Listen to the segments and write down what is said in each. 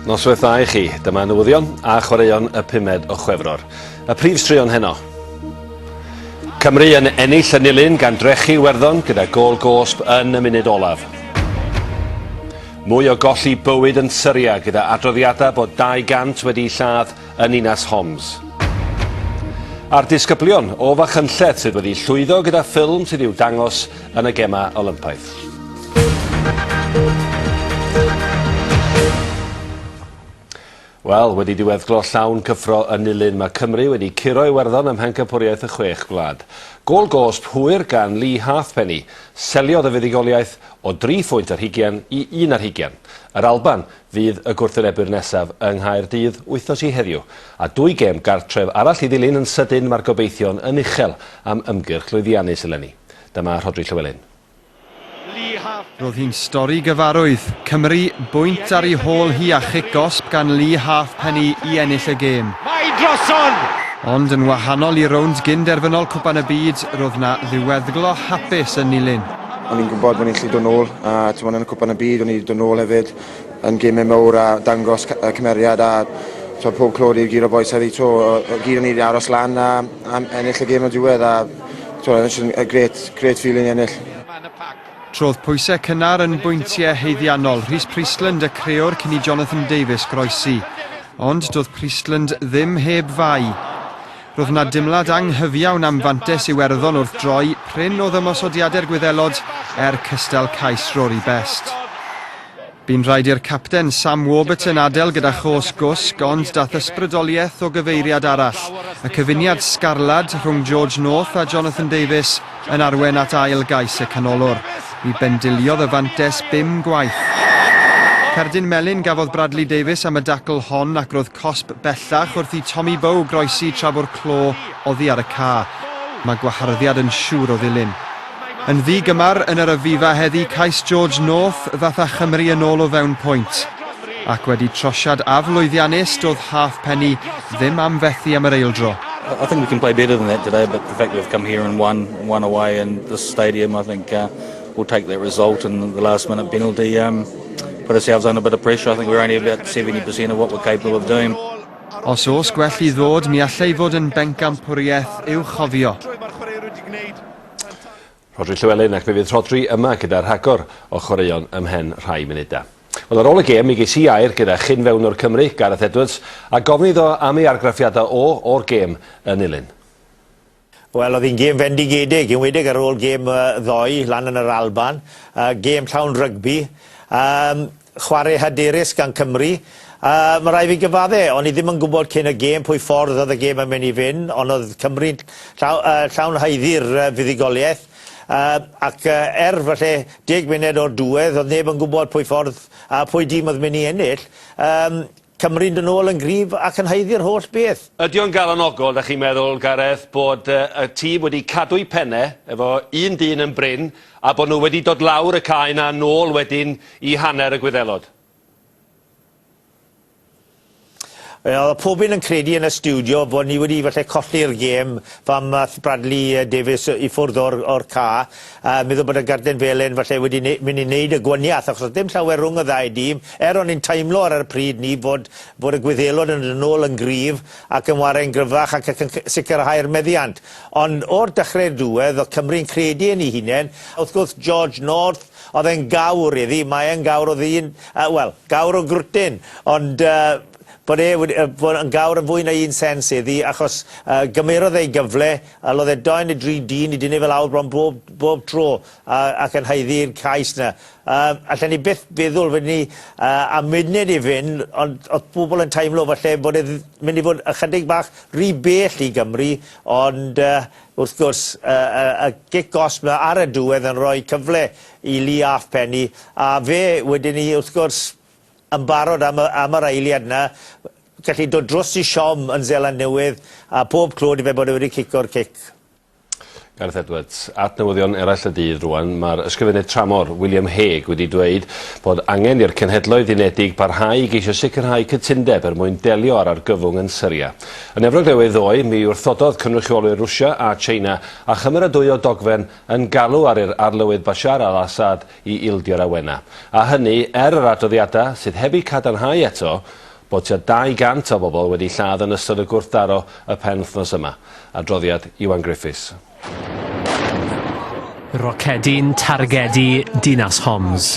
Noswaith dda i chi. Dyma newyddion a chwaraeon y pumed o Chwefror. Y prif straeon heno. Cymru yn ennill y nilyn gan drechu Werddon gyda gol gosb yn y munud olaf. Mwy o golli bywyd yn Syria gyda adroddiadau bod 200 wedi'u lladd yn ninas Homs. A'r disgyblion o Fachynlleth sydd wedi llwyddo gyda ffilm sydd i'w dangos yn y Gemau Olympaidd. Wel, wedi diweddglo llawn cyffro yn Nulyn, mae Cymru wedi curo Iwerddon ym Mhencampwriaeth y Chwech Gwlad. Gôl gosb hwyr gan Lee Halfpenny seliodd y fuddugoliaeth o dri phwynt ar hugain i un ar hugain. Yr Alban fydd y gwrthwynebwyr nesaf yng Nghaerdydd wythnos i heddiw. A dwy gêm gartref arall i ddilyn yn sydyn, mae'r gobeithion yn uchel am ymgyrch lwyddiannus eleni. Dyma Rhodri Llywelyn. Roedd hi'n stori gyfarwydd. Cymru bwynt ar ei hôl hi a chic gosb gan Lee Halfpenny i ennill y gêm. Mae drosodd! Ond yn wahanol i'r rownd gyn-derfynol Cwpan y Byd, roedd 'na ddiweddglo hapus yn Nilyn. O'n i'n gwybod bod ni'n gallu dod nôl a timod yn y Cwpan y Byd o'n i 'di dod nôl hefyd. yn gemau mawr a dangos y cymeriad a twa, pob clod i'r gyd o bois heddi to, y gyd o'n i wedi aros lan a, a ennill y gêm o diwedd a twa, it's a great, great feeling ennill. Trodd pwysau cynnar yn bwyntiau haeddiannol Rhys Priestland a creo'r cyn i Jonathan Davies groesi. Ond doedd Priestland ddim heb fai. Roedd yna dimlad anghyfiawn am fantes Iwerddon wrth droi, prin oedd ymosodiadau'r Gwyddelod, er cystal cais Rory Best. Bu'n rhaid i'r capten Sam Warburton adael gyda chos gwsg ond daeth ysbrydoliaeth o gyfeiriad arall, y cyfuniad sgarlad rhwng George North a Jonathan Davies yn arwain at ail gais y canolwr. Mi bendiliodd y fantes bum gwaith. Cerdyn melyn gafodd Bradley Davies am y dacl hon ac roedd cosb bellach wrth i Tommy Bowe groesi tra bo'r clo oddi ar y ca. Mae gwaharddiad yn siŵr o ddilyn. Yn ddi-gymar yn yr Aviva heddi cais George North ddath â Chymru yn ôl o fewn pwynt. Ac wedi trosiad aflwyddiannus doedd Halfpenny ddim am fethu am yr eildro. I think we can play better than that today, but the fact we've come here and won, won away in this stadium, I think uh, we'll take that result and the last minute penalty um, put ourselves under a bit of pressure. I think we're only about 70% of what we're capable of doing. Os oes gwell i ddod, mi allai fod yn bencampwriaeth i'w chofio. Rhodri Llewelyn ac fe fydd Rhodri yma gyda rhagor o chwaraeon ymhen rhai munudau. Wel, ar ôl y gêm, mi geis i air gyda chyn fewnwr Cymru, Gareth Edwards, a gofyn iddo am ei argraffiadau o o'r gêm yn Nulyn. Wel, oedd hi'n gêm fendigedig, enwedig ar ôl gêm ddoe lan yn yr Alban. Gêm llawn rygbi. Um, Chwarae hyderus gan Cymru. Yy, ma' rai' fi gyfadde', o'n i ddim yn gwbod cyn y gêm pwy ffordd o'dd y gêm yn myn' i fyn', on' o'dd Cymru'n llaw- yy llawn haeddu'r yy fuddugolieth. Yy, ac yy er falle deg munud o'r dwedd, o'dd neb yn gwbod pwy ffordd a pwy dîm o'dd myn' i ennill. Yym. Cymru'n dod nôl yn gryf ac yn haeddu'r holl beth. Ydy o'n galonogol, dach chi'n meddwl, Gareth, bod y tîm wedi cadw'u penne efo un dyn yn brin a bod nhw wedi dod lawr y cae 'na nôl wedyn i hanner y Gwyddelod? Wel, oedd pob un yn credu yn y stiwdio bod ni wedi falle colli'r gêm pan ath Bradley Davies i ffwrdd o'r o'r cae. A meddwl bod y garden felen falle wedi ne- mynd i wneud y gwaniath achos oedd dim llawer rhwng y ddau dîm er o'n i'n teimlo ar yr pryd ni fod bod y Gwyddelod yn yn ôl yn gryf ac yn ware'n gryfach ac ac yn sicrhau'r meddiant. Ond o'r dechrau i'r diwedd oedd Cymru'n credu yn ei hunain. Wrth gwrs George North oedd e'n gawr iddi, mae e'n gawr o ddyn, uh, wel, gawr o grwtyn, ond uh, bod e wedi, uh, bod yn gawr yn fwy na un sens iddi achos uh, gymerodd ei gyfle A loddedau'n y dri dyn i dynnu fe lawr bron bob, bob tro, a, ac yn haeddu'r cais 'na. Yy, allen ni byth feddwl, wedyn ni, yy, am munud i fynd, ond o'dd pobl yn teimlo falle bod e dd- mynd i fod ychydig bach ry bell i Gymru, ond yy, wrth gwrs, y, y, y gic gosb 'na ar y diwedd yn rhoi cyfle i Lee 'Alfpenny, a fe, wedyn ni, wrth gwrs, yn barod am y, am yr eiliad yna, gallu dod dros i siom yn Zeland Newydd, a pob clod i fe bod e wedi cico'r cic. Gareth Edwards. At newyddion eraill y dydd rwan, mae'r ysgrifennydd tramor, William Hague, wedi dweud bod angen i'r Cenhedloedd Unedig barhau i geisio sicrhau cytundeb er mwyn delio â'r argyfwng yn Syria. Yn Efrog Newydd ddoe, mi wrthododd cynrychiolwyr Rwsia a China a chymeradwyo dogfen yn galw ar yr arlywydd Bashar al-Assad i ildio'r awenau, a hynny er yr adroddiadau sydd heb eu cadarnhau eto bod tua 200 o bobl wedi lladd yn ystod y gwrthdaro y penwythnos yma. Adroddiad Iwan Griffiths. Rocedi'n targedu dinas Homs.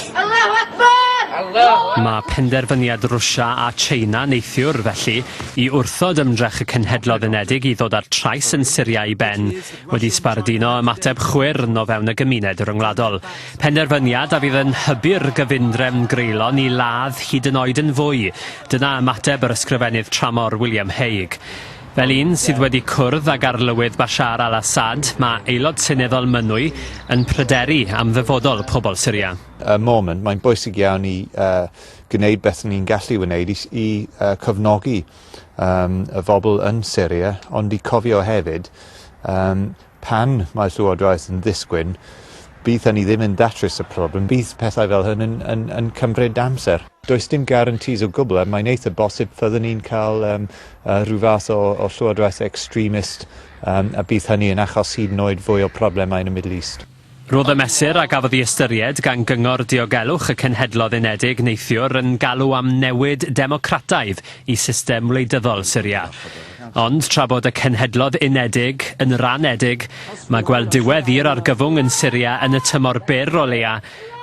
Mae penderfyniad Rwsia a China neithiwr, felly, i wrthod ymdrech y Cenhedloedd Unedig i ddod â'r trais yn Syria i ben, wedi sbarduno ymateb chwyrn o fewn y gymuned ryngwladol. Penderfyniad a fydd yn hybu'r gyfundrefn greulon i ladd hyd yn oed yn fwy. Dyna ymateb yr ysgrifennydd tramor William Hague. Fel un sydd wedi cwrdd ag arlywydd Bashar al-Assad, mae Aelod Seneddol Mynwy yn pryderu am ddyfodol pobl Syria. Y moment, mae'n bwysig iawn i uh, gwneud beth ni'n gallu wneud i, i uh, cofnogi yym y bobl yn Syria, ond i cofio hefyd yym pan mae Llywodraeth yn ddisgwyn, bydd hynny ddim yn datrys y problem, bydd pethau fel hyn yn yn yn cymryd amser. Does dim guarantees o gwbl a mae'n eitha bosib fyddwn ni'n cael yym yy rhyw fath o o Llywodraeth extremist yym a bydd hynny yn achos hyd yn oed fwy o problemau yn y Middle East. Roedd y mesur a gafodd ei ystyried gan Gyngor Diogelwch y Cenhedloedd Unedig neithiwr yn galw am newid democrataidd i system wleidyddol Syria. Ond tra bod y Cenhedloedd Unedig yn ranedig, mae gweld diwedd i'r argyfwng yn Syria yn y tymor byr o leia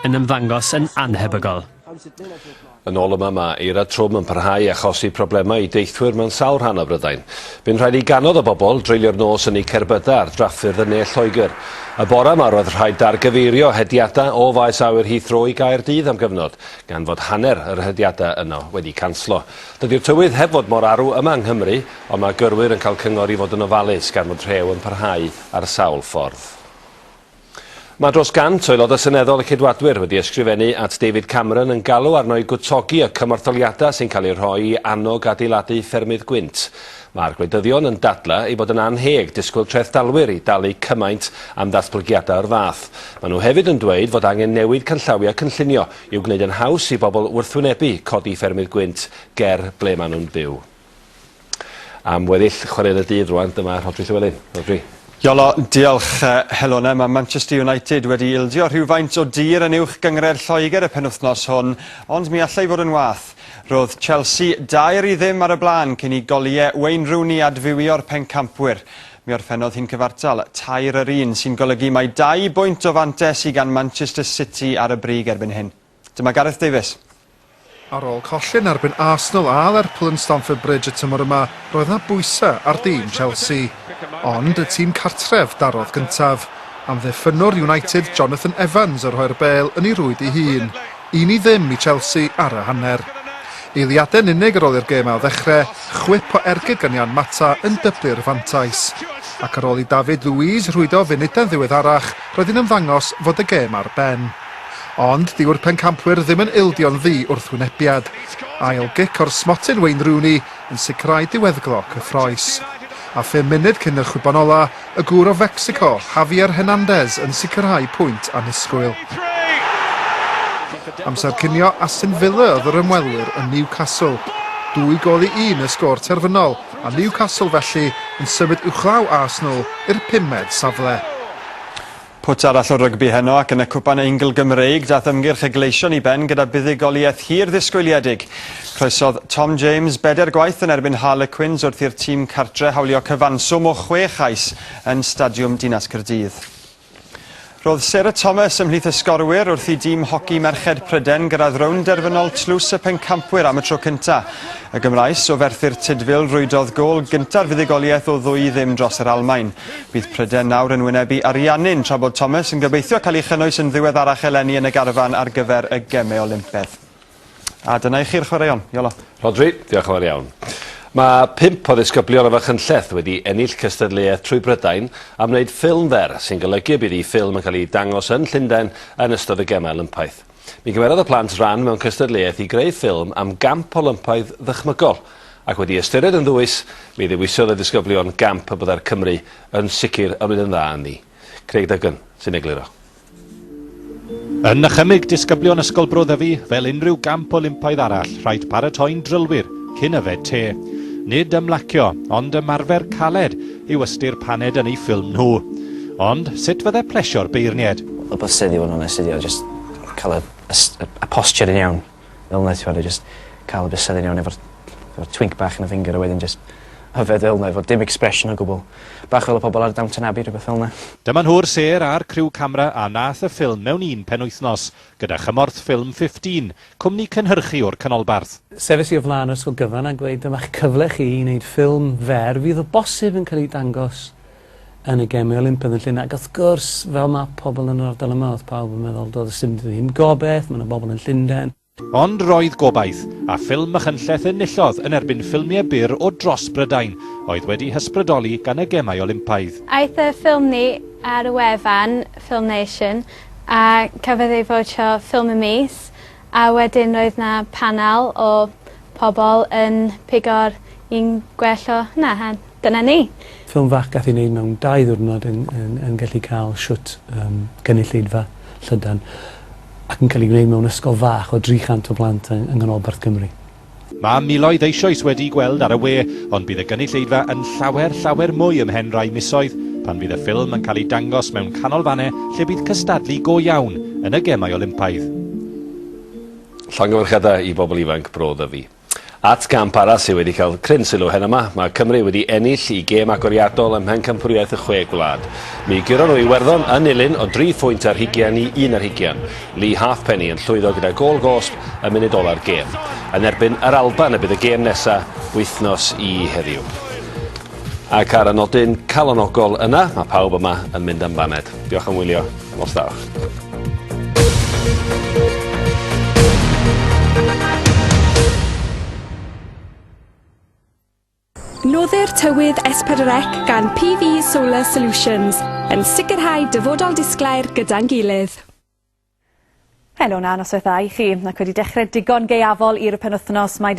yn ymddangos yn annhebygol. Yn ôl yma, mae eira trwm yn parhau i achosi problemau i deithwyr mewn sawl rhan o Brydain. Bu'n rhaid i ganodd o bobl dreulio'r nos yn eu cerbydau ar drafffyrdd yn ne Lloegr. Y bore yma roedd rhaid dargyfeirio hediadau o faes awyr Heathrow i Gaerdydd am gyfnod, gan fod hanner yr hediadau yno wedi canslo. Dydy'r tywydd heb fod mor arw yma yng Nghymru, ond mae gyrwyr yn cael cyngor i fod yn ofalus gan fod rhew yn parhau ar sawl ffordd. Mae dros 100 o Aelodau Seneddol y Ceidwadwyr wedi ysgrifennu at David Cameron yn galw arno i gwtogi y cymortholiadau sy'n cael eu rhoi i annog adeiladu ffermydd gwynt. Mae'r gwleidyddion yn dadlau ei bod yn annheg disgwyl trethdalwyr i dalu cymaint am ddatblygiadau o'r fath. Maen nhw hefyd yn dweud fod angen newid canllawiau cynllunio i'w gwneud yn haws i bobl wrthwynebu codi ffermydd gwynt ger ble maen nhw'n byw. am weddill chwarel y dydd rwan, dyma Rhodri Llywelyn. Rhodri. Iolo, diolch Helona. Mae Manchester United wedi ildio rhywfaint o dir yn uwch gyngred Lloegr y penwythnos hwn, ond mi allai fod yn wath. Roedd Chelsea dair i ddim ar y blaen cyn i goliau Wayne Rooney adfywio'r pencampwyr. Mi orffennodd hi'n cyfartal tair yr un, sy'n golygu mai dau bwynt o fantes i gan Manchester City ar y brig erbyn hyn. Dyma Gareth Davies. Ar ôl colli yn erbyn Arsenal a Lerpwl yn Stamford Bridge y tymor yma, roedd yna bwysau ar dîm Chelsea. Ond y tîm cartref darodd gyntaf. Amddiffynnwr United Jonathan Evans o rhoi'r bêl yn ei rwyd ei hun. Un i ddim i Chelsea ar y hanner. Eiliadau yn unig ar ôl i'r gêm ail ddechrau, chwip o ergyd gan Jan Mata yn dyblu'r fantais. Ac ar ôl i David Luiz rhwydo funudau'n ddiweddarach, roedd hi'n ymddangos fod y gêm ar ben. Ond dyw'r pencampwyr ddim yn ildio'n ddu wrth wynebiad. Ail gic o'r smotyn Wayne Rooney yn sicrhau diweddglo cyffroes. A phum munud cyn y chwibon ola, y gŵr o Fecsico, Javier Hernandez yn sicrhau pwynt annisgwyl. Amser cinio Aston Villa oedd yr ymwelwyr yn Newcastle. Dwy gol i un y sgôr terfynol, a Newcastle felly yn symud uwchlaw Arsenal i'r pumed safle. Pwt arall o rygbi heno ac yn y Cwpan Eingl Gymreig daeth ymgyrch y Gleision i ben gyda buddugoliaeth hir ddisgwyliedig. Croesodd Tom James bedair gwaith yn erbyn Harlequins wrth i'r tîm cartre hawlio cyfanswm o chwe chais yn Stadiwm Dinas Caerdydd. Roedd Sarah Thomas ymhlith y sgorwyr wrth i dîm hoci merched Pryden gyrraedd rownd derfynol tlws y pencampwyr am y tro cyntaf. Y Gymraes o ferthyr Tydfil rwydodd gol gynta'r fuddugoliaeth o ddwy i ddim dros yr Almaen. Bydd pryder nawr yn wynebu Ariannin tra bod Thomas yn gobeithio cael ei chynnwys yn ddiweddarach eleni yn y garfan ar gyfer y Gemau Olympedd. A dyna i chi'r chwaraeon. Iolo. Rhodri, diolch yn fawr iawn. Mae pump o ddisgyblion o Fachynlleth wedi ennill cystadleuaeth trwy Brydain am wneud ffilm fer, sy'n golygu y bydd eu ffilm yn cael ei dangos yn Llundain yn ystod y Gemau Olympaidd. Mi gymerodd y plant ran mewn cystadleuaeth i greu ffilm am gamp Olympaidd ddychmygol, ac wedi ystyried yn ddwys, mi ddewisiodd y disgyblion gamp y byddai'r Cymry yn sicr yn mynd yn dda ynddi. Craig Duggan sy'n egluro. Yn nychymyg disgyblion Ysgol Bro Ddyfi, fel unrhyw gamp Olympaidd arall, rhaid paratoi'n drylwyr cyn yfed te. Nid ymlacio, ond ymarfer caled, yw ystyr paned yn eu ffilm nhw. Ond, sut fydde plesio'r beirnied? Y bysedd i fod yn onest ydi o jyst cael y y y posture yn iawn fel 'na t'mod a jyst ca'l y bysedd yn iawn efo'r efo'r twinc bach yn y finger a wedyn jyst yfed fel 'na efo dim expression o gwbwl. Bach fel y pobol ar Downton Abbey rhywbeth fel 'na. Dyma nhw'r sêr a'r criw camra a nath y ffilm mewn un penwythnos, gyda chymorth ffilm 15, Cwmni cynhyrchu o'r Canolbarth. Sefais i o flaen yr ysgol gyfan a gweud dyma'ch cyfle chi i wneud ffilm fer fydd o bosib yn cael ei dangos yn y Gemau Olympaidd yn Llun ac wrth gwrs fel mae pobl yn yr ardal yma oedd pawb yn meddwl doedd dim ddim gobaith, mae yna bobl yn Llundain. Ond roedd gobaith, a ffilm Machynlleth enillodd yn erbyn ffilmiau byr o dros Brydain oedd wedi hysbrydoli gan y Gemau Olympaidd. Aeth y ffilm ni ar y wefan FilmNation. A cafodd ei fowtio ffilm y mis a wedyn roedd 'na panel o pobol yn pigo'r un gwell o hwnna a dyna ni. Ffilm fach gath ei wneud mewn dau ddiwrnod yn yn yn gallu cael shwt yym gynulleidfa llydan ac yn cael ei wneud mewn ysgol fach o 300 o blant yng yng nghanolbarth Cymru. Mae miloedd eisoes wedi'i gweld ar y we, ond bydd y gynulleidfa yn llawer, llawer mwy ymhen rai misoedd, pan fydd y ffilm yn cael ei dangos mewn canolfannau lle bydd cystadlu go iawn yn y Gemau Olympaidd. Llongyfarchiadau i bobl ifanc Bro Ddyfi. At gamp arall sydd wedi cael cryn sylw heno yma, mae Cymru wedi ennill i gêm agoriadol ym Mhencampwriaeth y Chwe Gwlad. Mi gyron nhw Iwerddon yn Iwerddon yn nilyn o dri phwynt ar hugian i un ar hugian. Lee Halfpenny yn llwyddo gyda gôl gosb y munud ola'r gêm. Yn erbyn yr Alban y bydd y gêm nesa wythnos i heddiw. Ac ar y nodyn calonogol yna, mae pawb yma yn mynd am baned. Diolch am wylio. Nos dda. Noddir tywydd S4C gan PV Solar Solutions yn sicrhau dyfodol disglair gyda'n gilydd. Helo na noswaith dda i chi, ac wedi dechrau digon gaeafol i'r penwythnos, mae